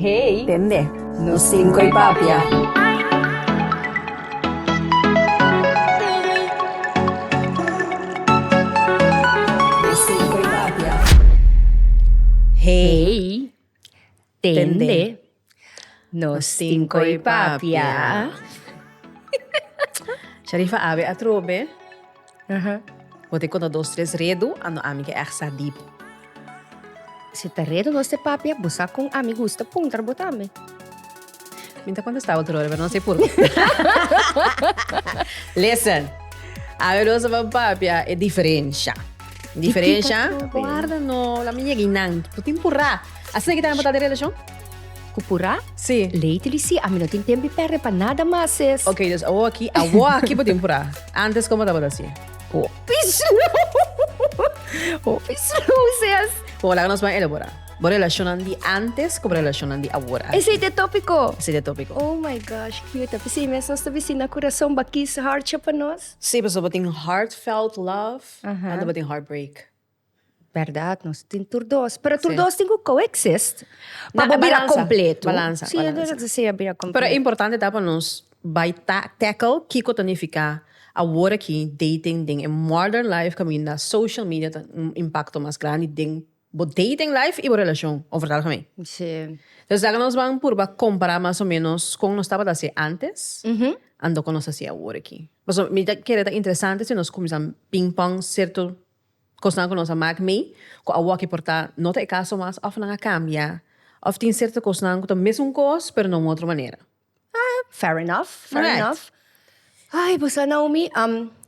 Hey. Tende. Nos cinco y papia. Hey. Tende. Nos cinco y papia. Sharifa awe atrobe. Bo tin konta dos tres redu a no ami ke èg sa dip. Si ta redu nos te papia bo sa kon ami gusta puntra bo tambe. Mi ta kontesta otro ora pero no si purke. Listen ami lo sa ban papia e diferensha. Diferensha guarda no la mi yega inan bo tin purá. Asina kitan bo ta den relashon. Cu pura? Sí. Leite di sí, ami no tin tempo di perde pa nada mas, ses. Ok, dus awo aki, awo aki bo tin pura. Antes como tabata así? Hopi slow! Hopi slow, ses. Bo laga nos ban elabora. Bo relacionnan di antes cu bo relacionnan di awor. Esey ta e topico? Esey ta e topico. Oh my gosh, cute. P'esey mes nos ta bisina curason bakis, hartje pa nos. Sí, pasobra bo tin heartfelt love, anto bo tin heartbreak. Berdad nos tin tur dos pero tur dos tin cu coexist pa bo bira completo si e dor ta sea bira completo. Pero e importante ta pa nos bay tackle kico ta nifica awor aki dating den e modern life caminda social media ta un impacto mas grandi den bo dating life y bo relacion over ta algemeen. Entonces esaki nos ban purba compara mas o menos con nos tabata haci antes and con nos ta haci awor aki. Pasobra mi ta kere ta interesante si nos cuminsa ping pong certo. Kosnan ku nos a mak mei ku awoki por ta no ta e kaso mas òf nan a kambia òf tin serto kosnan ku ta mesun kos pero na un otro manera. Ah, fair enough, fair enough. Correct. Ai, bo sa Naomi,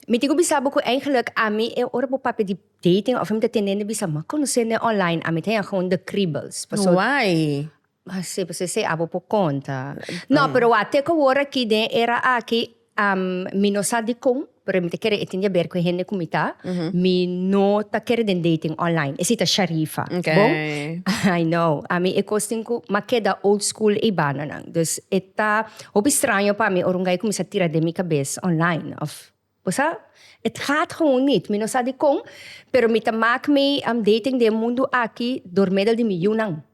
mi tin ku bisa bo ku eigenlik ami e ora bo papia di dating òf mi ta tenende bisa mi a konosende online, ami ta yaha un de kriebels. Pasobra. Why? Si pues esei abo por conta. No, pero wak, te cu awor aki den e era aki, mi no sa dicon, pero mi ta kere e tin di aber cu e hende cu mi ta, mi no ta kere den dating online, esei ta Sharifa, bo? I know, ami e cos tin cu m'a keda old school eibanonan, dus e ta hopi straño pa mi ora un guy cuminsa tira den mi cabes online of. Bo sa, it gaat gewoon niet. Mi no sa dikon, pero mi ta maak mi updating den e mundu aki door meddel di mi yunan.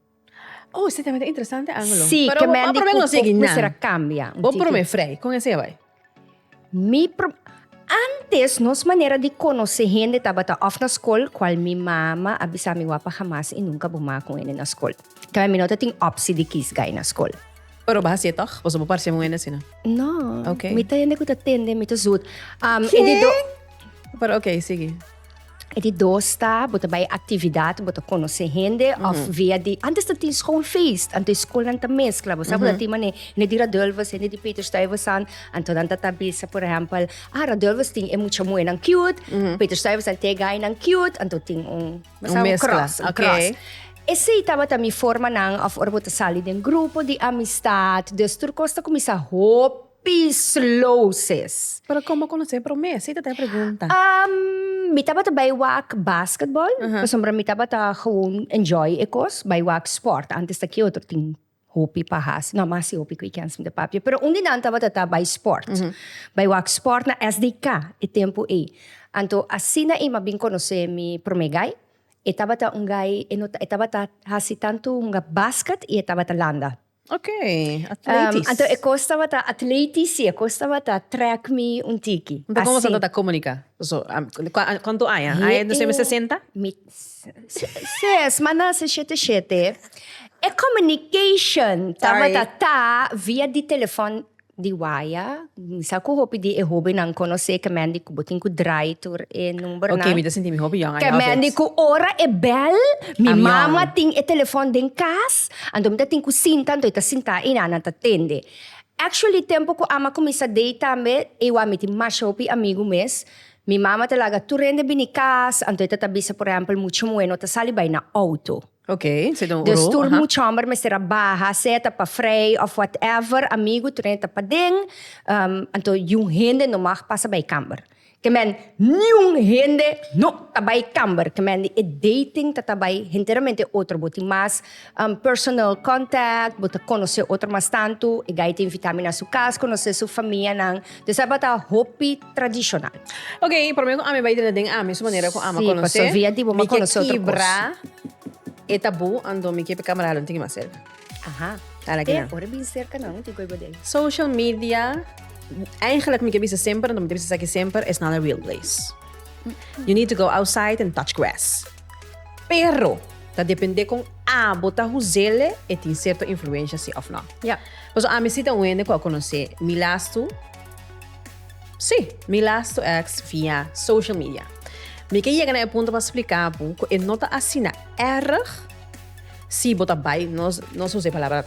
Oh, se ta mester interesante angelo. Sí, Pero kemen di ku kok mi ser a kambia. Bo prome frei kon esei bai? Mi pro, antes nos manera di konosé hende tabata òf na skol, kual mi mama a bisa mi wapa hamas i nunka bo maak un hende na skol. Kemen mi no ta tin opsi di kiis gai na skol. Pero bo hasié tog? Boso bo parse muhende asina? No. Ok. Mi ta hende ku ta tende mi ta zut. Um, e di do, Pero ok, sigui. e di dos ta, bo ta bai aktividat, bo ta konosé hende, of via di, antes ta tin schoolfeest, anto e skolnan ta meskla, bo sa, bo ta tin manera, hende di Radulfus, hende di Peterstuyvesant, anto nan ta ta bisa, por ehempel, ah, Radulfus tin e mucha muhernan cute, Peterstuyvesant tin e gainan cute, anto tin un Un mezcla, ok. Esey tabata mi formanan of ora bo ta sali den grupo di amistad, dus tur cos ta cuminsa hopi slow sis. Pero con bo conoce prome? Esey ta ta e pregunta. Umm, mi tabata bay wak basketball, pasobra mi tabata gewoon enjoy e cos, bay wak sport, antes ta ki otro tin. Hopi pa hasi, no masi hopi cu e kensma ta papia. Pero un di nan tabata ta bai sport. Bai wak sport na SDK e tempo ey. Anto asina Ima bin conoce mi prome gai. E tabata un gai, e no ta, e tabata hasi tanto hunga basket y e tabata landa. Ok, atletisch. Anto e cos tabata atletisch, si, e cos tabata track mi un tiki. Anto como asina ta comunica? Cu, cuantu aña? Aña ta mester senta? Mi. Ses, Manasse shete shete. E communication tabata ta via di telefon di waya. Mi sa cu hopi di e hobennan conoce kemendi cu bo tin cu draai tur e numbernan. Ok, mi ta sinti mi hopi jong, I love it. Kemendi cu ora e bel, mi mama tin e telefon den cas, anto mi ta tin cu sinta, anto e ta sinta ina, nan ta tende. Actually, tempo cu Ama cuminsa dei tambe, e wou a miti masha hopi amigu mes, Mi mama ta laga tur hende bini cas, anto e ta ta bisa por ehempel mucha muhe no ta sali bai na auto. Ok, se ta un Dus oro, tur aha. mucha homber mester a baha, sea ta pa frei of whatever, amigu tur hende ta paden, ehm, anto yiun hende no mag pasa bai camber. Ke men niun hende no ta bai camber, ke men di e dating ta ta bai henteramente otro, bo tin mas personal contact, bo ta conoce otro mas tantu, e guy ta invita mi na su cas, conoce su famianan, dus tabata hopi. tradishonal. Ok, promé ku ami bai drinta den ami su manera ku ama konosé, mi ke kibra e tabú anto mi ke p'e kamaralnan tin ke mas serka. Aha. Ala ki nan. P'e ora bin serka nan tin ku e gode. Social media, eigenlik mi ke bisa semper, anto mi ta bisa esaki semper, it's not a real place. You need to go outside and touch grass. Pero, ta dependé kon abo ta huzele, e tin sierto influensha si òf nò. Pasobra ami si ta un hende ku a konosé mi lastu. Sí, mi last to ask via social media. Mi ke yega na e punto pa splika bo ku e no ta asina erg si bo ta bai, nos nos usa e palabra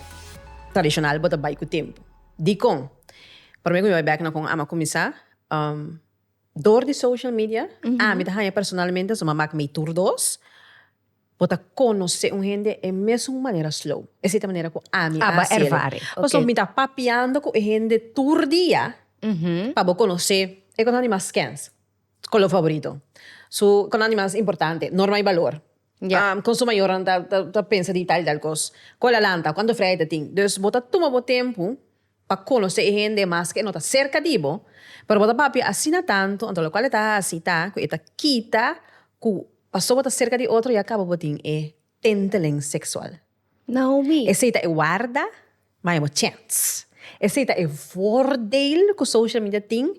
tradishonal, bo ta bai ku tempu. Dikon? Promé ku mi bai bèk na kon Ama kuminsá, dor di social media, ami ta haña personalmente su mi a mak mi tur dos. Bo ta conoce un hende e mesun manera slow. Esey ta manera cu ami a haci el. Pasobra mi ta papiando cu e hende tur dia pa bo conoce e cosnan di mas skenz. Color favorito. Su cosnan di mas importante. Norma y valor. Con su mayornan ta pensa di tal y tal cos. Cua la lanta. Cuanto freya e ta tin. Dus bo ta tuma bo tempo pa conoce e hende mas cu e no ta cerca di bo, pero bo ta papia asina tanto, anto locual e ta haci ta cu e ta kita cu pasobra bo ta cerca di otro ya caba bo tin e tinteling sexual. Naomi. Esey ta e warda, ma e bo chance. Esey ta e voordeel cu social media tin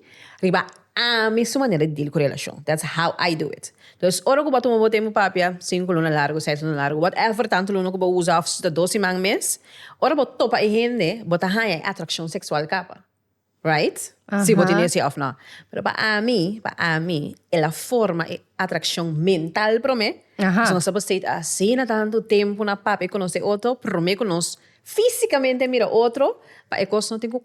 riba Ami es su manera di deal cu relacion. That's how I do it. Dus ora cu bo a tuma bo tempo papia, cinco luna largo, seis luna largo, whatever tanto luna cu bo usa of si ta dos siman mes, ora bo topa e hende, bo ta haya e atraccion sexual caba. Right? Si bo tin esey of no. Pero pa ami, pa ami, el a forma e atraccion mental prome, si nos a por stay asina tanto tempo na papia y conoce otro, prome cu nos fisicamente mira otro, pa e cos no tin cu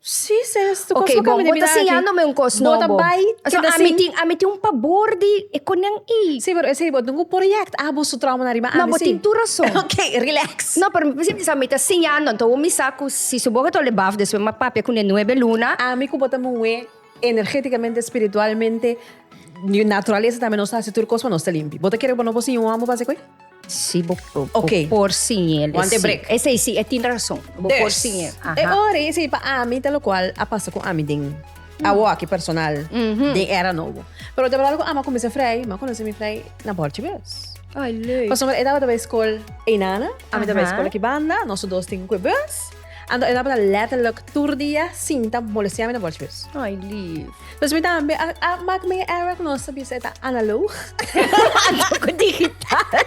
Sí, sí, es tu okay, bo, bo ta siñándome un cos no, bo. Bai, so, a mi tin, a mi tin un pabor di e konen i. Sí, pero ese bo tengo project, ah, bo su trauma na riba, ah, No, bo tin tu razón. okay, relax. No, pero mi pensé, sa mi ta siñando, anto bo mi sa cu si su boca ta ole baf despues ma papia cu ne nuebe luna. A mi cu bo ta moe energéticamente, espiritualmente, naturaleza tambe nos ta haci tur cos pa nos ta limpi. Bo ta kere cu bo no bo siña un homber pa haci koe? Si bo por siñ'é lesi. Esei si, e tin rason. Bo por siñ'é. E ora ei esei pa ami ta lokual a pasa ku ami den, awo aki personal, den era nobo. Pero ta bardad ku ami a kuminsá frei, mi a konosé mi frei na bòrchi bes. Pasobra e tabata bai skol Einana, ami ta bai skol aki banda, noso dos tin kue bes. Anto e tabata letterlijk tur dia sinta molesteame na borstbus. Ay lief. Dus mi tambe a a mak mi e era ku nos ta bisa e ta analoog. Anto ku digital.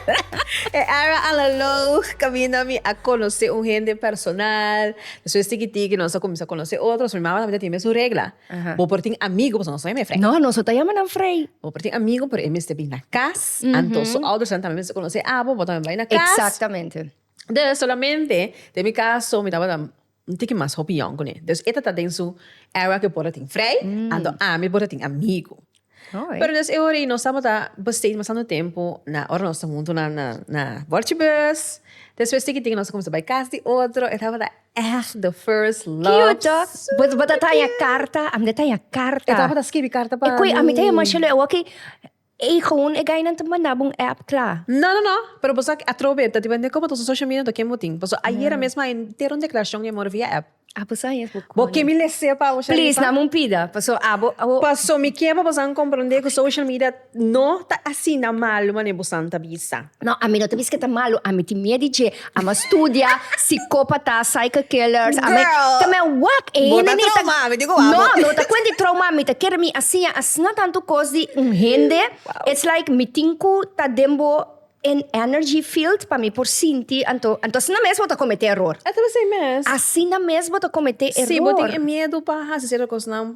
E era analoog kaminda mi a konosé un hende personal. Despues tikití ku nos a kuminsá konosé otros, mi mama tambe ta tin mes un regla, bo por tin amigu pasobra nos no yama e frei. No, nos no ta yama nan frei. Bo por tin amigu pero e mester bin na kas, anto su oudersnan tambe mester konosé abo, bo tambe bai na kas. Exactamente. Dus solamente den mi caso mi tabata un tiki mas hopi yong cune. Dus e ta ta den su era cu e por ta tin vrij, anto ami por ta tin amigo. Pero dus e ora ey nos tabata besteden bastante tempo na ora nos ta hunto na na na borchibus. Despues tiki tiki nos a cuminsa bay cas di otro. E tabata echt de first love. Cute toch? Bo ta taya carta? Ami ta taya carta. E tabata scribi carta pa mi. E cu ami ta yama shelo e wak. Eigon e gainan ta manda bo un app kla. No no no pero boso aki atrobe ta depende komo ta su social media to ken bo tin paso ayera mesmo hay entero un declaracion di amor via app. Abo sa yes bo con. Bo ke mi lese pa oca Please riba? name un pida paso abo abo. Paso mi ke pa bosan compronde cu social media no ta asina malo mane bosan ta bisa. No, ami no ta bisti ke ta malu, ami tin miedu di dje. Ami a studia sikópata, psycho killers, ami a. Girl! Te mi a wak e hende Bota neita. trauma, mi tin ku wak bo. No, no ta kuenta di trauma, mi ta kere mi a siña asina tantu kos di un hende, it's like mi tin ku ta den bo en energy field pa mi por sinti, anto anto asina mes bo ta kometé eror. E ta esei mes. Asina mes bo ta kometé eror. Si bo tin e miedu pa hasi sierto kosnan.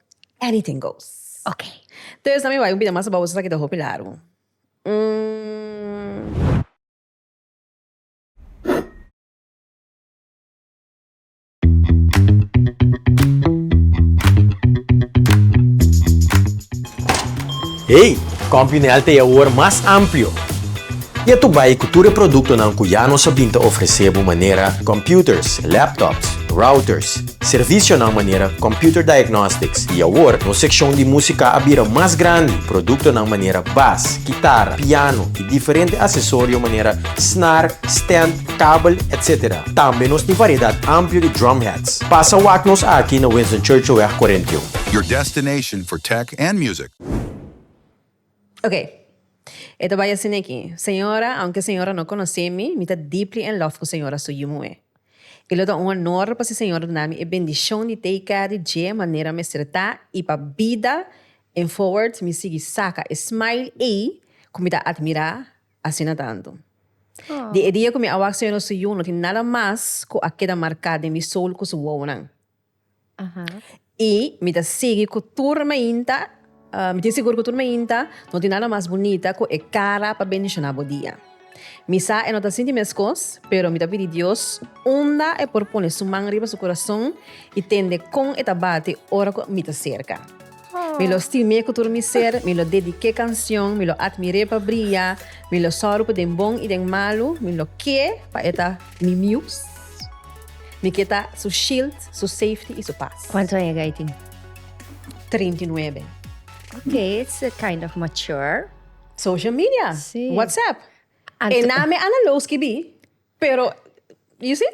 Anything goes. Ok. Tesa mi bai un bida mas baboso esaki ta hopi largu. Umm. Hey! CompuNel ta e awor mas amplio. Ya tur bai cu tur e productonan cu ya nos a bin ta ofrece bo manera computers, laptops, routers, Servisionan manera Computer Diagnostics i awor nos sekshon di músika a bira mas grandi. Produktonan manera bas, kitara, piano i diferente asesorio manera snar, stand, kabel, etc. Tambe nos tin variedat amplio di drum hats. Pasa wak nos aki na Winston Churchillweg 41. Your destination for tech and music. Ok, e ta bai asina aki, Señora, aunke Señora no conoce mi, mi ta deeply in love cu Señora su yu muhe. Y lo ta un honor pa si Señora ta na mi e bendicion di take care di dje manera mester ta y pa bida en forward mi sigui saca e smile ey cu mi ta admira asina tanto. Di e dia cu mi a wak Señora su yu no tin nada mas cu a keda marca den mi soul cu su wowonan. I mi ta sigui ku tur mainta, mi tin sigur ku tur mainta no tin nada mas bunita ku e kara pa bendishoná bo dia. Mi sa e no ta sinti meskos, pero mi ta pidi Dios unda e por pone su man riba su kurason i tende kon e ta bati ora ku mi ta serka. Mi lo stim'é ku tur mi ser, mi lo dedik'é kansion, mi lo atmir'é pa bria, mi lo sòru pa den bon i den malu, mi lo k'é pa e ta mi mius, mi ke ta su shield, su safety i su pas. Kuantu aña ga i tin? Treinta i nuebe. Ok, it's kind of mature. Social media, WhatsApp, e name a na lo skibí, pero you see?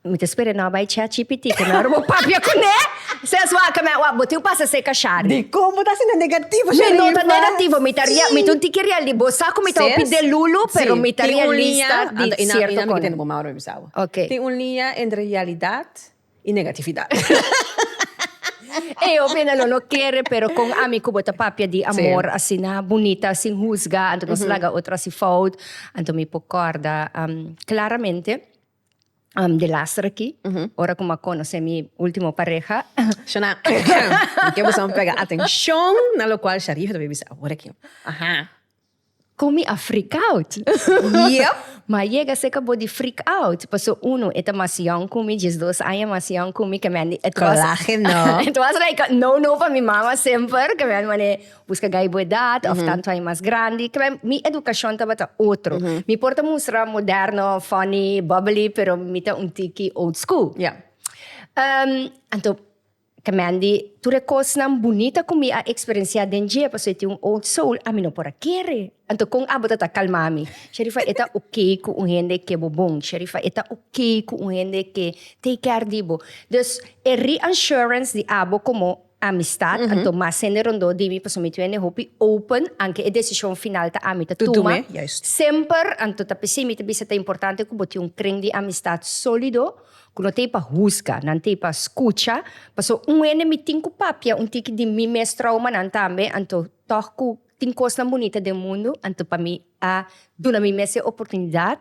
Mi ta spera no a bai chat cpt cu nan ora bo papia cu ne. Sas wak me wak bo tin un pasa seca shari. Di con bo ta asina negativo shari mi no ta negativo mi ta mi ta un tiki realista bo sa cu mi ta hopi delulu pero mi ta realista di cierto cosa okay tin un liña entre realidad y negatividad ey hopi ene lo no kere pero con ami cu bo ta papia di amor asina bunita sin huzga anto nos laga otro hasi fout anto mi por corda claramente. de laster aki ora ku mi a konosé mi último pareha. Shana, mi ke busa un prega atenshon na lokual Sharif ta bin bisa awor aki. Ku mi a freak out. Yep. Mi a yega serka bo di freak out pasobra uno e ta mas yòn ku mi, dies dos aña mas yòn ku mi, Kalahe no. It was like a no no pa mi mama semper, kamian manera. Busca gay bo edad of tanto ay mas grandi. Kibay mi educacion tabata otro. Mi por ta mustra moderno, funny, bubbly pero mi ta un tiki old school. Anto Kamendi tur e cosnan bunita cu mi a experiencia den dje pasobra e tin un old soul ami no por a kere. Anto con abo ta ta calma mi? Sherifa e ta ok cu un hende ke bo bon. Sherifa e ta ok cu un hende ke take care di bo. Dus e reassurance di abo como. Amistad, anto mas hende rondó di mi, pasobra mi ta bira n'e hopi open, aunke e decision final ta ami ta tuma. Semper, anto ta p'esei mi ta bisa ta importante cu bo tin un kring di amistad solido, cu no ta ei pa husga, nan ta ei pa scucha, pasobra un hende mi tin cu papia un tiki di mi mes traumanan tambe, anto tog cu tin cosnan bunita den mundu, anto pa mi a duna mi mes e oportunidad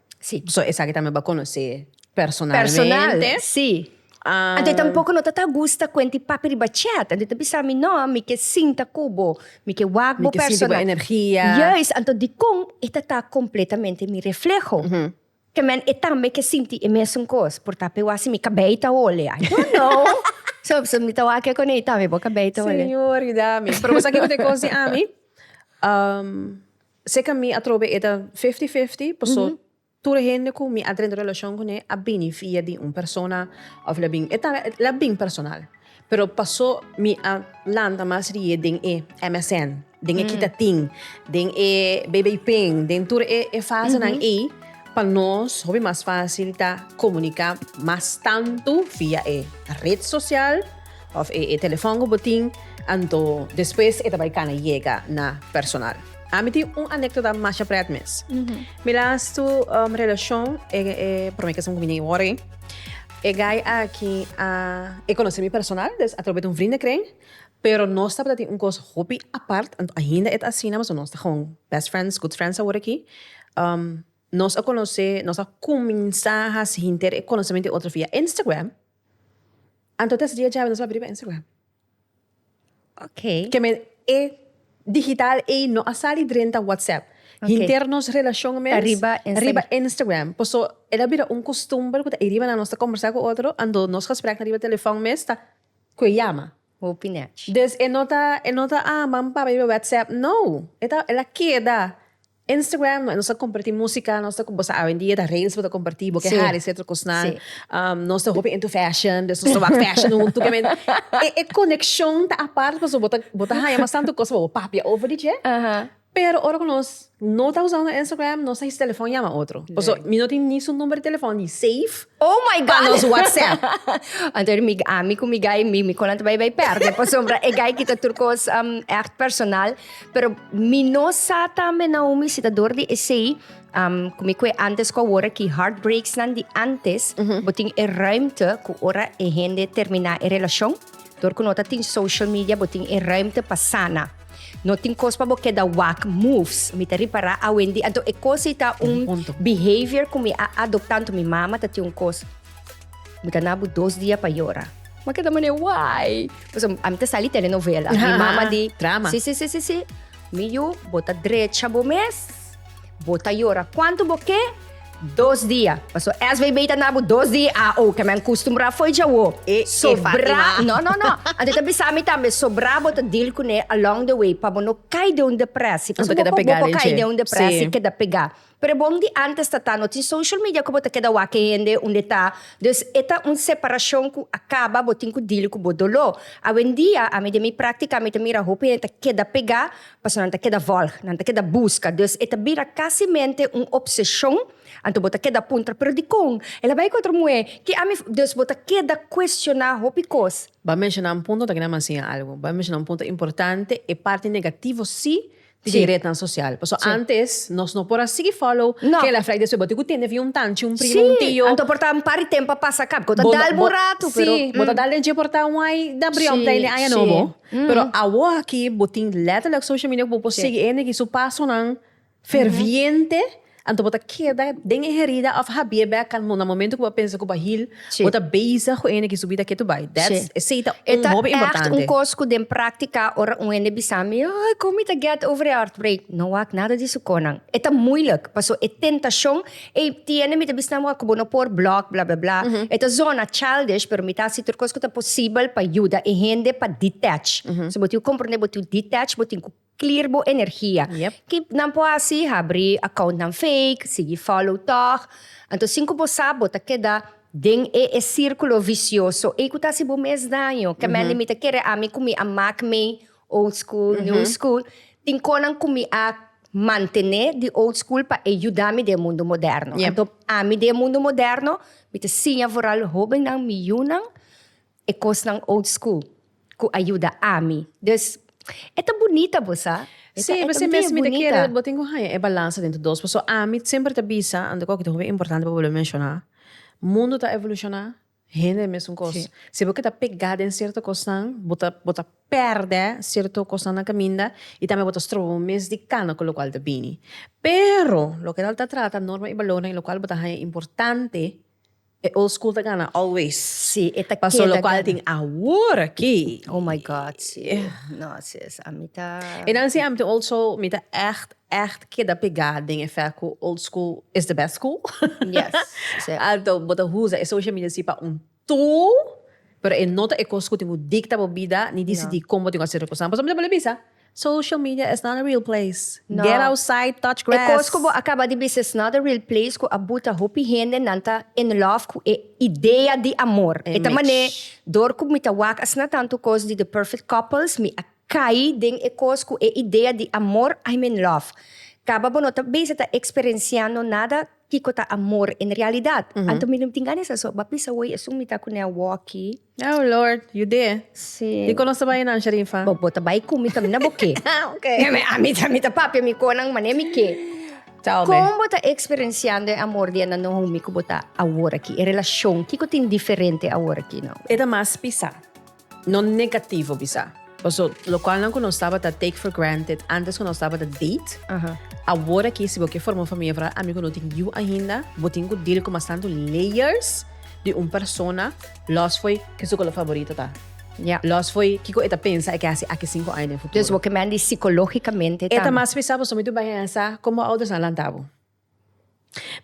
Sí. So esaki tambe bo a conoce personalmente. Personal, sí. Um, Anto tampoco no ta ta gusta cuenta y papi riba chat. Anto ta bisa mi no, mi ke sinta cubo, mi ke wak bo personal. Mi ke sinta bo energia. Juist, anto di con e ta ta completamente mi reflejo. Mm -hmm. Ke men e tambe ke sinti e mesun cos. Por ta pewa si mi cabei ta ole. I don't know. so, so mi ta wak con e tambe, bo cabei ta ole. Señor, mi. Pero bo sa kiko te cos di ami? Um, Seca mi a trobe e ta fifty fifty paso tur e hende cu mi a drenta relacion cune a bini via di un persona of la bin e ta la bin personal pero paso mi a lanta mas rie den e MSN den e kita tin den e bb ping den tur e e fasenan ey pa nos hopi mas facil ta comunica mas tanto via e red social. Of e telefon cu bo tin, anto despues e ta bay cana yega na personal. Ami tin un anecdota masha pret mes. Mi lastu relacion e prome kes mi bini worde, e guy aki a e conoce mi personal, dus a trobe di un vriend ekren, pero nos tabata tin un cos hopi apart, anto ainda e ta asina, pasobra nos ta gewoon best friends, good friends awor aki. Nos a conoce, nos a cuminsa haci hinter e conocement di otro via Instagram. Anto tesa dia djabe nos papia riba Instagram. Ok. Ke men e digital ei no a sali drenta WhatsApp. Ok. Hinter nos relashon mes. Ta riba Instagram. Riba Instagram. Paso el a bira un kustumber ku ta ei riba nan nos ta kombersá ku otro ando nos gespreknan riba telefòn mes ta ku e yama. Hopi nèchi. Des e no ta e no ta a manda papia riba WhatsApp. No! E ta el a keda Instagram nos ta comparti musica nos ta bosa a hoy día ta reels bo ta comparti bo ke hari si otro cosnan nos ta hopi into fashion nos ta wak fashion hunto ke men e coneccion ta apart pasobra bo ta bo ta haya mas tanto cos pa bo papia over di dje pero ora cu nos no ta usando Instagram nos ta hisi telefon yama otro pasobra mi no tin ni su number di telefon di save pa nos WhatsApp anto mi ami cu mi guy mi mi konan ta bay bay perde pasobra e guy kita tur cos echt personal. Pero mi no sa tambe na un visitador di esei, um, mi kwe antes ko wora ki heartbreaks nan di antes, mm -hmm. botin e ruimte ku ora e hende termina e relacion, dor ku nota tin social media, botin e ruimte pa sana. No tin kos pa bo keda wak moves. Mi ta ripara a Wendy, anto e kos ta un behavior ku mi a adopta, anto mi mama ta tin un kos. Mi ta na bo dos dia pa yora. Ma keda mane wai. Pues a mi ta sali telenovela. Mi Aha, mama aha. di. Drama. Si, si, si, si, si. Mi yu, bo ta drecha bo mes. Bo ta yora kuantu bo ke. Dos dia. Paso SVB ta na bo dos di AO. Ke men kustumbrá fo'i djawo. E, e Sobrá. Fatima. No, no, no. Anto e ta bisa mi tambe, sobrá bo ta deal kuné along the way pa bo no kai den un deprèsi. Bo ta Paso bo keda por, bo pegá por den kai dje. den un deprèsi, Sí. keda pegá. Prebon di antes ta ta no tin social media ku bo ta keda wak e hende unda e ta, dus e ta un separashon ku a kaba bo tin ku dili ku bo doló. Awendia ami den mi práktika mi ta mira hopi hende ta keda pegá pasobra nan ta keda vòlg, nan ta keda buska, dus e ta bira kasimente un opseshon, anto bo ta keda puntra pero dikon el a bai ku otro muhé, ke ami, dus bo ta keda kuestioná hopi kos. Bo a menshoná un punto, ta keda mansiña algu, bo a menshoná un punto importante, e parti negativo sí di rednan sosial. Pasobra antes nos no por a sigui fòlow kela flaita esei bo tin ku tende fin un tanchi, un primo, un tio. Si, anto por ta un par di tempu pa pasa kaba, bo ta dal bo un ratu pero. Si, bo ta dal den dje por ta un ai da briòn plei den aña nobo. Pero awor aki bo tin lèterlèk social media ku bo por sigui hende ki su pasonan ferviente. Anto bo ta keda den e herida of habie bek al no na momento ku bo a pensa ku bo a hil? Bo ta bezig ku ene ki su bida ke tu bai. Dats esei ta un hopi importante. E ta èkt un kos ku den praktika ora un hende bisa mi, Ai, kon mi ta gèt over e heartbreak? No wak nada di su konan. E ta muilik, paso e tentashon ei tiene mi ta bisa nan bo ku bo no por block bla bla bla. E ta zona childish, pero mi ta hasi tur kos ku ta posibel pa yuda e hende pa detach. Si bo tin ku komprende bo tin ku detach, bo tin ku Clear bo energia. Yep. Ki nan por haci? Habri accountnan fake, sigui follow tog. Anto sin cu bo sa, bo ta keda den e e circulo vicioso ey cu ta haci bo mes daño. Kemendy mi ta kere ami cu mi a maak mey old school, new school. Tin conan cu mi a mantene di old school pa ey yuda mi den e mundo moderno. Yep. Anto ami den e mundo moderno mi ta siña foral hobennan, mi yunan, E kosnan old school ku a yuda ami. Dus, e ta bunita bo sa. E ta, e ta Si, bes mi ta kere bo tin ku haña e balansa den tu dos. Paso ami ta semper ta bisa, anto koki ta hopi importante pa bolbe menshoná, mundu ta evolushoná, hende e mesun kos. Si bo ke ta pegá den sierto kosnan, bo ta, bo ta pèrdè sierto kosnan na kaminda i tambe bo ta stroba bo mes di kana ku lokual ta bini. Pero loke nan ta trata norma i balornan i lokual bo ta haña importante. E old school ta gana always. Sí, e ta keda gana. Paso lokual tin awor aki. Oh my God, sí. No, sis, ami ta. E nan siy ami ta old so mi ta ègt, ègt keda pegá den e fèt ku old school is the best school. Yes, sí. Anto bo ta usa e social media sí pa un tool, pero e no ta e kos ku tin ku dikta bo bida ni disidí kon bo tin ku hasi tur kosnan. Pasobra mi ta wòlda bisa. Social media is not a real place. No. Get outside, touch grass. E cos cu bo a caba di bisa is not a real place cu a buta hopi hende nan ta in love cu e idea di amor. E ta mane dor cu mi ta wak asina tantu cos di The Perfect Couples mi a cai den e cos cu e idea di amor I'm in love. Caba bo no ta bezig ta experenciando nada kico ta amor en realidad. Anto mi no tin gana esa so ba bisa hoy esun mi ta cune a walkie. Oh Lord, yud'é. Sí. Dikon nos ta bai nansha den fa? Bo ta bai ku mi tambe na bo ke. Ah, ok. Ami ta mi ta papia mi konan mané mi ke. Tell me. Kon bo ta eksperensiando e amor di Anna no homi ku bo ta awor aki? E relashon, kiko tin diferente awor aki no? E ta mas pisá. No negativo bisá. Paso locualnan cu nos tabata take for granted antes cu nos tabata date, aworaki si bo ke forma un famia vra ami cu no tin yiu ainda bo tin cu deal cu mas tanto layers di un persona los fo'i ke su color favorito ta, los fo'i kico e ta pensa e ke haci aki cinco aña den futuro. Dus bo ke mandi psicologicamente tambe. E ta mas pesá paso mi tin cu bai haya sa con bo oudersnan lanta bo.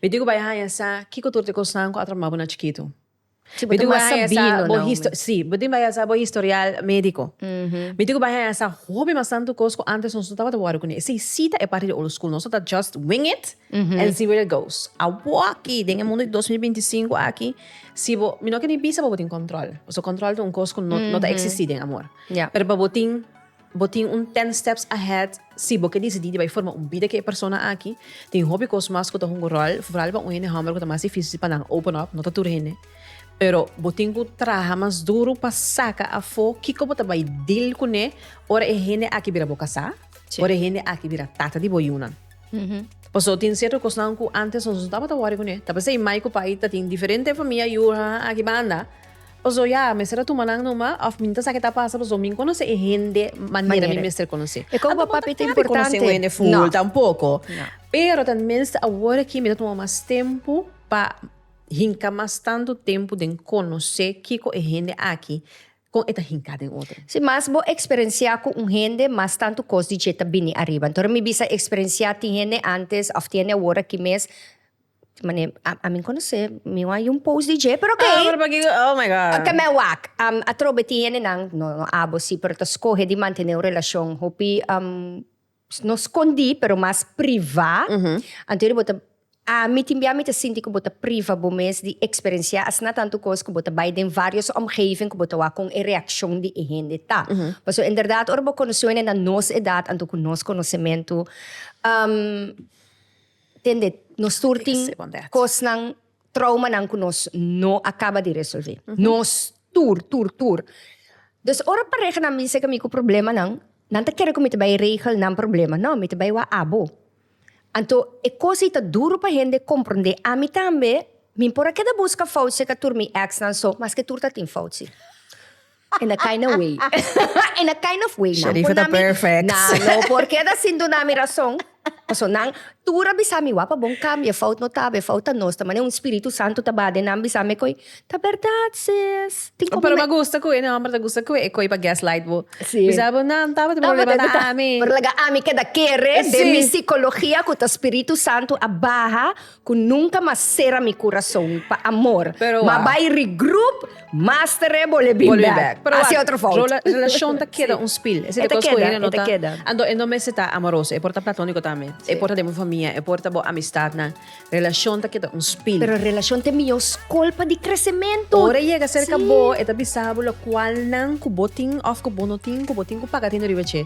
Mi tin cu bai haya sa kico tur t'e cosnan cu a tromabo na chikitu. Mi tin cu bay haya sa bo histo, si, bo tin bay haya sa bo historial medico. Mi tin cu bay haya sa hopi mas tanto cos cu antes nos no tabata worry cu ne. Si, si ta e parti di old school. Nos tabata just wing it and see where it goes. Awo aki, den e mundo di dos mil binti sinku aki, si bo, mi no ke ni bisa pa bo tin control. Pasobra control ta un cos cu no, no ta existi den amor. Pero pa bo tin. Bo tin un ten steps ahead si bo ke disidí di bai forma un bida ku e persona aki. Tin hopi kos mas ku ta hunga ròl, foral pa un hende hòmber ku ta mas difísil pa nan open up, no ta tur hende. Pero bo tin ku traha mas duru pa saka afó kiko bo ta bai deal kuné ora e hende aki bira bo kasá, ora e hende aki bira tata di bo yunan. Pasobra tin sierto kosnan ku ántes nos no tabata wòri kuné, ta pasei mai ku pai ta tin diferente famia yu, aki banda. Paso ya, mester a tuma nan noma of mi no ta sa ke ta pasa paso mi conoce e hende manera mi mester conoce. E con papá pi ta importante. Conoce un hende full tampoco. Pero ta mester awor aki mi ta tuma mas tempo pa hinca mas tanto tempo den conoce kico e hende aki con e ta hinca den otro. Si mas bo experencia cu un hende mas tanto cos di dje ta bini ariba. Entor mi bisa experencia tin hende antes of tin hende awor aki mes. Mane, a, a mi conoce, mi wou a yu un post di dje, pero ok. Ah, pero p'aki, oh my god. Ok, me wak. Um, atrobe tin hendenan, no, no abo si, pero ta scoge di mantene un relacion hopi, um, no scondi, pero mas priva. Anto yere bo ta, ami tin bia mi ta sinti cu bo ta priva bo mes di experencia asina tantu cos cu bo ta bay den varios omgeving cu bo ta wak con e reaccion di e hende ta. Pasobra en berdad ora bo conoce un hende na nos edad, anto cu nos conocemento, um. Tende, nos tur tin kosnan, troumanan ku nos no a kaba di resolvé. Nos tur, tur, tur. Dus ora parehanan bisa ke mi ku problemanan, nan ta kere ku mi ta bai regel nan problema. No, mi ta bai wak abo. Anto, e kos ei ta duru pa hende komprondé. Ami tambe, mi por a keda buska fout serka tur mi èksnan so, maske tur ta tin fout si. En a kind of way. En a kind of way. Nan por nami. Nan no por keda sin duna mi rason. Paso nan tur a bisa mi wak pa bon cambia, fout no ta awe, fout ta nos ta. Mane un spiritu santo ta ba den nan bisa me koe ta berdad sis. Tin como me. Pero me gusta koe nan homber ta gusta koe e koe pa gas light bo. Si. Bisa bo nan taba tin problema ta ami. Pero laga ami keda kere den mi psicologia ku ta spiritu santo a baha. Cu nunca mas cera mi curason pa amor. Pero Ma wak. bay regroup, mas tere bole bin Bole bin back. back. Pero Haci wak, otro fout. rola- relacion ta keda Sí. un spil. Esei E ta dikos cu keda, hende e no ta ta. keda. Anto e no mester ta amoroso. E por ta platonico tambe. Sí. E por ta den bo famia, e por ta bo amistadnan. Relacion ta keda un spil. Pero relacion ta e mihor scol pa di crecemento. Ora e yega cerca Sí. bo, e ta bisa bo locualnan cu bo tin of cu bo no tin, cu bo tin cu paga tin riba dje.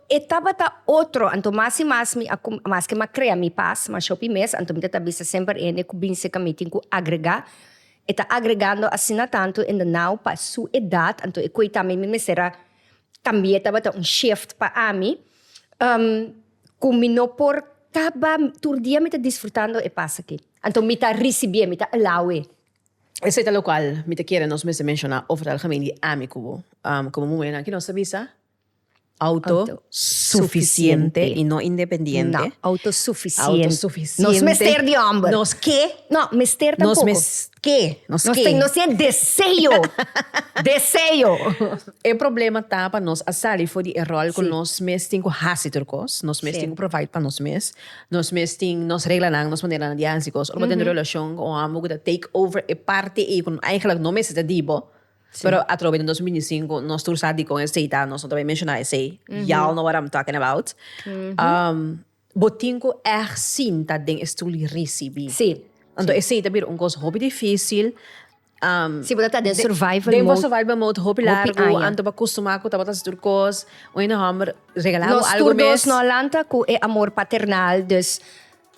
E tabata otro, anto mas i mas mi a cum, maske m'a crea mi pas, ma shopi mes, anto mi ta ta bisa semper e hende cu bin cerca mi tin cu agrega, e ta agregando asina tanto hende now pa su edad, anto e coita mi, mi mester a cambia tabata un shift pa ami, cu mi no por caba, tur dia mi ta disfrutando e pas aki, anto mi ta ricibi'e, mi ta allow-e. Esey ta locual mi ta kere nos mester menciona over algemeen di ami cu bo, como muhenan ki nos ta bisa, Auto sufisiente i no independiente. No, auto sufisiente. Auto sufisiente. Nos mester di homber. Nos ke. No, mester tampoco. Nos mes ke. Nos ke. Nos tin e deseo. Deseo. E problema ta pa nos a sali for di e rol cu nos mes tin cu hasi tur cos. Nos mes tin cu provide pa nos mes. Nos mes tin nos reglanan, nos maneranan di hasi cos. Ora bo ta den un relacion cu un homber cu ta take over e parti ei cu no, eigenlijk no mester ta di bo. Pero atrobe den dos mil binti sinku nos tur sa dikon e seita, nos no ta bai menshoná esei. Y'all know what I'm talking about. Bo tin ku ègt sinta den e stul i risibí. Sí. Anto esei ta bira un kos hopi difísil. Sí, bo ta ta den survival mode. Den bo survival mode hopi largu. Hopi aña. Anto bo a kustumá ku ta bo ta hasi tur kos. Un hende hòmber regalá bo algu mes. Nos tur dos no a lanta ku e amor paternal, dus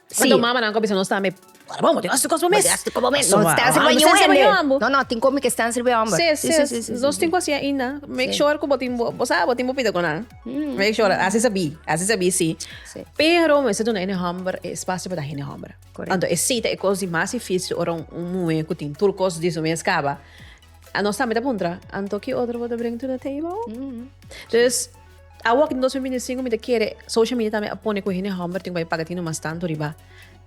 Pasobra un mamanan cu a bisa nos ta mep, Ora bo, bo tin hasi cos bo mes. Bo tin hasi pa bo mes. Nos stansi riba ñuhu hende. No, no, tin comi cu e stansi riba e homber. Sí, sí, sí, sí, sí. Nos tin cu hasi ainda. Make sure cu bo tin bo, bo sabi bo tin bo pita cu nan. Make sure, hasi sabi, hasi sabi sí. Sí. Pero mester duna hende homber e espacio pa ta hende homber. Corect. Anto esey ta e cos di mas dificil ora un muhe cu tin tur cos di su mes caba. Nos tambe ta puntra, Anto ki otro bo ta bring to the table? Dus. Awo aki den dos mil binti sinku mi ta kere social media tambe a pone ku hende hòmber tin ku bai paga tino mas tantu riba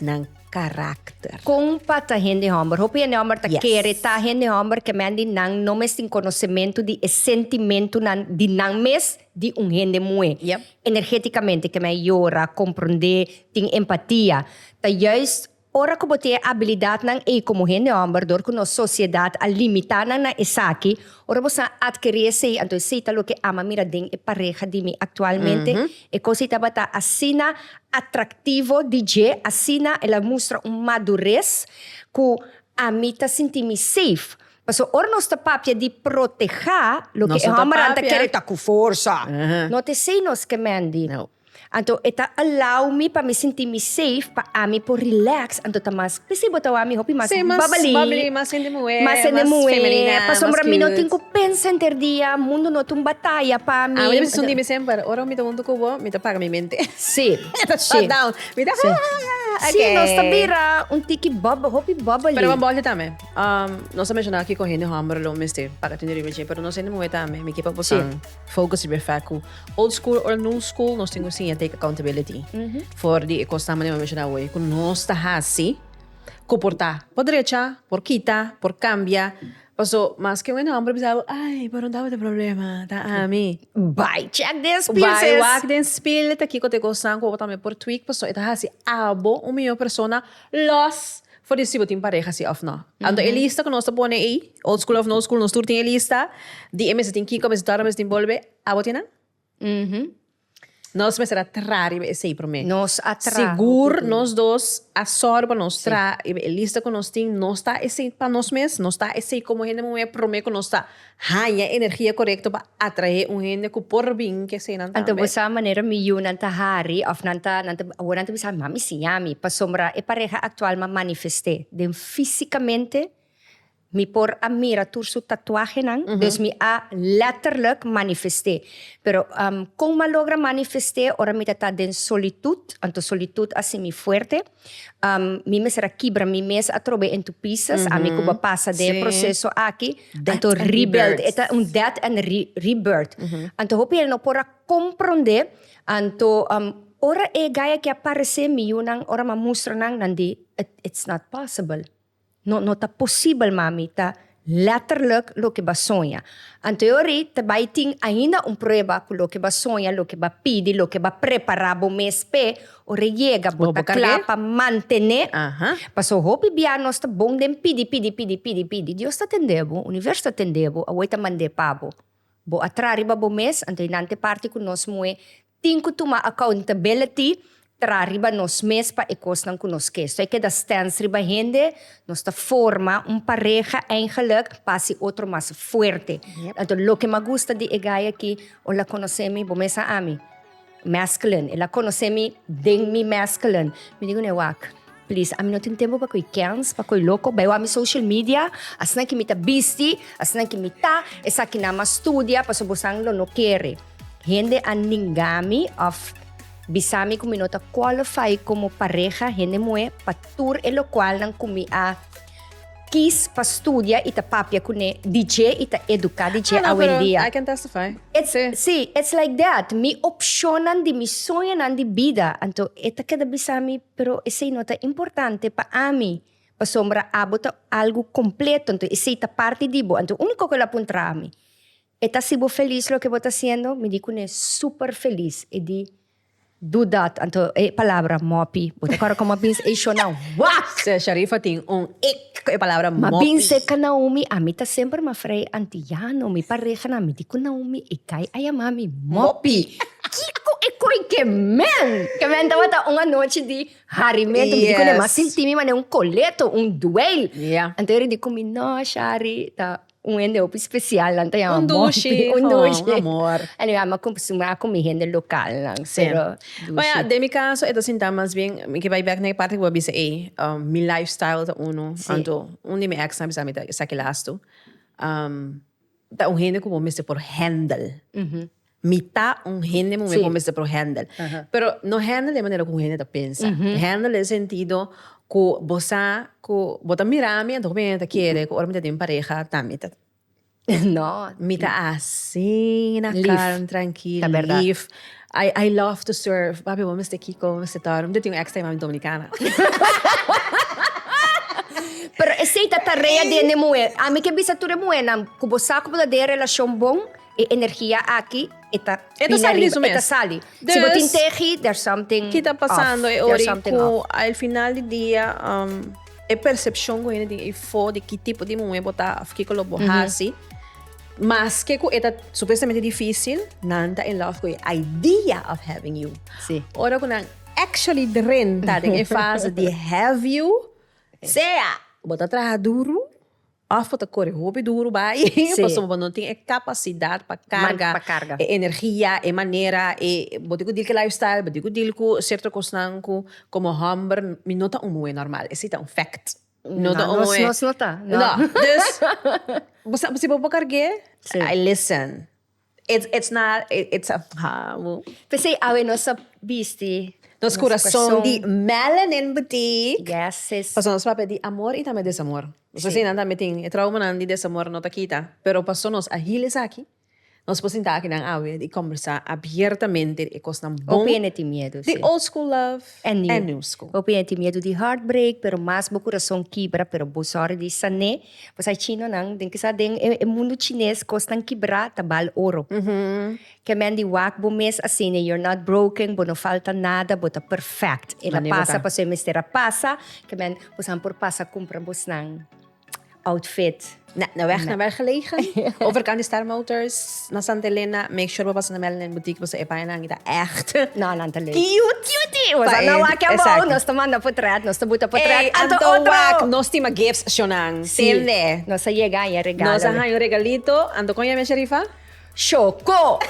nan karakter. Kon pa ta hende hòmber? Hopi hende hòmber ta kere ta hende hòmber kemendi nan no mes tin konosementu di e sentimentunan di nan mes di un hende muhé. Energétikamente kemei yora, komprondé, tin empatia. Ta juist Ora ku bo tin e abilidatnan ei komo hende hòmber, dor ku nos sosiedat a limitá nan na esaki, ora bo sa adkerí esei, anto esei ta loke I'ma mira den e pareha di mi aktualmente. E kos ei tabata asina atraktivo di dje, asina el a mustra un madures ku ami ta sinti mi safe. Pasobra ora nos ta papia di protehá, loke e hòmbernan ta kere ta ku forsa. Nòt esei nos ke Mandy. Anto e ta allow mi pa mi sinti mi safe pa ami por relax anto ta mas p'esei bo ta wak mi hopi mas Sí, mas babali babali, mas hende muhé, mas hende mas muhé femenina, pasobra mas mi no tin cute. cu pensa enter dia mundo no ta un bataya pa mi Ami ta bisa hunti mi semper, ora mi ta hunto cu bo mi ta paga mi mente Sí, mi ta sí, shut down, mi ta sí, ok. sí nos ta bira un tiki bab hopi babali. Pero bo bòrda tambe um nos a menshona kiko hende hòmber lo mester paga tende riba dje pero nos hende muhé tambe mi ke pa botan. Sí. Focus di befect cu old school or new school nos tin cu siña take accountability for di e cosnan manera mi a menciona awe cu nos ta haci cu por ta por drecha, por kita, por cambia. Paso maske awe no amper bisa bo ay pero dame ta problema ta ami. Bai check den spill sis. Bai wak den spill ta kiko ta e cosnan cu bo tambe por tweak paso e ta haci abo un mihor persona los. For di si bo tin pareha si òf nò. Anto e lista ku nos ta pone ei, old school òf no school, nos tur tin e lista di e mester tin kiko, e mester tòrna, e mester tin bolbe. Abo tin nan? Nos mester a traha riba esei promé. Nos a traha hopi puru. Sigur nos dos a sòru pa nos traha riba e lista ku nos tin, nos ta esei pa nos mes, nos ta esei komo hende muhé promé ku nos ta. Haña e energia korekto pa atraé un hende ku por bin ke eseinan tambe. Anto bo sa manera mi yunan ta hari òf nan ta nan ta awor nan ta bisa mami siña mi pasobra e pareha aktual mi a manifest'é den fisikamente mi por a mira tur su tatuahenan dus mi a lètterluk manifest'é pero kon mi a logra manifest'é ora mi ta ta den solitut anto solitut a hasi mi fuerte. Um, mi mester a kibra mi mes atrobe entu pieces, mm -hmm. ami kuba pasa de sí. proceso aki, death anto and rebuild, rebirth. eta un death and re rebirth. Mm -hmm. Anto hopi el no por a comprende, anto um, ora e gaya ki aparece, mi yunan, ora ma mustra nan, nan di, It, it's not possible. No, no ta posibel, mami, ta letterlijk loke ba soña. Anteori ta bai tin ainda un prueba cu loke ba soña, loke ba pidi, loke ba prepara bo mes p'e, ora e yega bo ta cla pa mantene. Paso hopi bia nos ta bon den pidi, pidi, pidi, pidi, pidi. Dios ta tende bo, Universo ta tende bo, awor e ta mand'e pa bo. Bo a tra riba bo mes, anto e nan te parti cu nos moe Tin ku tuma accountability tra riba nos mes pa e kosnan ku nos ke. So e keda stance riba hende, nos ta forma un pareha eigenlik pa hasi otro mas fuerte. Anto loke m'ha gusta di e guy aki, ol a konosé mi, bo mes a ami, masculine, el a konosé mi den mi masculine, mi digu ne wak. Please ami no tin tempo pa koy kens pa koy loko bay wak mi social media asnan ki mi ta bisti asnan ki mi ta esaki nan mas studia paso bosan lo no kere hende a ninga mi of bisa mi ku mi no ta qualify komo pareha hende muhé pa tur e lokual nan ku mi a kis pa studia i ta papia kuné didje i ta eduka didje awendia I can testify si si its like that mi opshonnan di mi soñonan di bida anto e ta keda bisa mi Pero esei no ta importante pa ami, pasobra abo ta algu kompleto, anto esei ta parti di bo. Anto úniko ku el a puntra ami, E ta hasi bo felis loke bo ta hasiendo? Mi di kuné, Súper felis! E di, Do dat! Anto e palabra mòpi, bo ta kòrda kòm a bin e shona wak! Sè Sharifa tin un ik ku e palabra mòpi. Ma bin serka Naomi, ami ta semper mas frei antiyano. Mi pareha nan, mi di ku Naomi, e kai a yama mi mòpi. Kiko e koi ke men? Ke men tabata un anochi di harimentu, mi di ku ne mas sinti mi mane un koleto, un duel. Anto Eric di ku mi, no Shari, ta un hende hopi spesial nan ta yama Monty. Un dushi, un dushi. Un amor. Anyway, a mi a kostumbrá ku mi hende lokalnan, pero dushi. Baya, den mi kaso e ta sinta mas bien, mi ke bai bèk na e parti ku bo a bisa ei, mi lifestyle ta unu, anto un di mi èksnan a bisa mi ta esaki lastu, ta un hende ku bo mester por hèndel. Mi ta un hende muhé ku a mester por hèndel. Pero no hèndel den manera ku un hende ta pensa. Hèndel den sentido ku bo sa ku bo ta mira mi anto ku mi ta kere ku ora mi ta tin pareha ta mi ta mi ta asina kalm, trankil, lif. I love to serve. Papi bo mester kiko, bo mester tor. Mi ta tin un èks ta yama mi Dominikana. Pero esei ta tarea den e muhé. Ami ke bisa tur e muhénan ku bo sa ku bo ta den e relashon bon, E energia aki e ta bini ariba, e ta sali. Si bo tin tegi, there's something off. Ki ta pasando e ora y cu al final di dia e percepcion cu hende tin afo di ki tipo di muhe bo ta of kico lo bo haci, maske cu e ta supuestamente dificil, nan ta in love cu e idea of having you. Ora cu nan actually drenta den e fase di have you, sea bo ta traha duro. Of bo ta kore hopi duru bai pasobra bo no tin e kapasidat pa karga e energia, e manera, e bo tin ku dil ku e lifestyle, bo tin ku dil ku serto kosnan ku komo hòmber mi no ta un muhé nòrmal, e si ta un fèkt. No ta un muhé. Nos no ta. No. Dus, bo sa si bo por karg'é, I listen. It's it's not it's a hamu. P'esei awe nos ta bisti nos kurason di melanin boutique. Yes sis. Paso nos papia di amor i tambe desamor. Nos a si nan tambe tin e traumanan di desamor no ta kita, pero paso nos a hila esaki, nos por sinta akinan awe i kombersá abiertamente di e kosnan bon. Hopi hende tin miedu, si. Di old school love en new school. Hopi hende tin miedu di heartbreak, pero mas bo kurason kibra, pero bo sòri di san'é. Pues hay chinonan den kisa den e mundo chines cosnan kibra ta bal oro. Ke men di wak bo mes asina you're not broken bo no falta nada bo ta perfect e na pasa paso e mester a pasa ke men bosan por pasa cumpra bosnan outfit. Na weg na werk gelegen overkant di Star Motors. Na Santa Elena make sure bo pasa na Mel Nen Boutique paso e baña nan ta echt na nan ta lei. Cute cute bo sa na wak ya bo nos ta manda potret nos ta buta potret anto otro. Anto wak nos tin ma gifts sho nan tende. Si nos a yega haña regalo. Nos a haña un regalito anto con yami Sharifa? Shoko.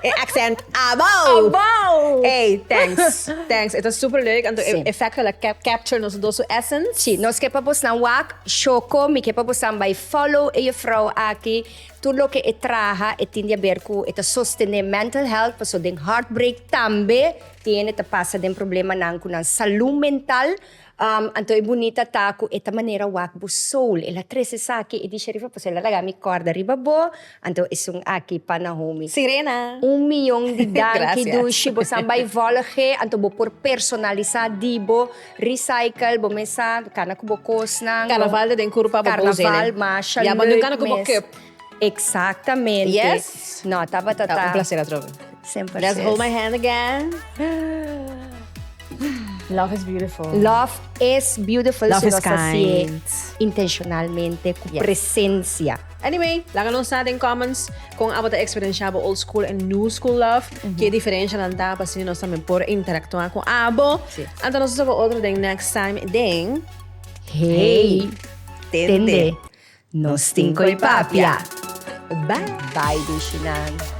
E accent abao. Abao. Ey thanks thanks e ta super leuk anto e effecto la capture nos dos su essence. Si nos ke pa bosan wak shoko mi ke pa bosan bai. Follow e juffrouw aki, tur loke e traha e tin di a ber cu e ta sostene mental health, paso den heartbreak tambe tiene ta pasa den problemanan cu nan salud mental, anto e bunita ta cu e ta manera wak bo soul, el a trece esaki, e di Sharifa paso el a laga mi corda riba bo, Anto esun aki pa Nahomi. Sirena. Un mion di danki Dushi bo san bai volge anto bo por personalisa di bo recycle bo mes sa cana cu bo cosnan Carnaval ta den curu pa bo boes ene Carnaval masha leuk mes ya bo den cana cu bo cup exactamente yes no tabata ta un placer atrobe semper let's hold my hand again love is beautiful love is beautiful love is kind intencionalmente cu presencia. Anyway, laga nos sa den comments kon abo ta experiencia bo old school en new school love, ke diferencianan ta pa asina nos tambe por interactua ku abo. Anta nos ta soco otro den next time den Hey Tende Nos Tin Koe Papia! Bye! Bye bishinan.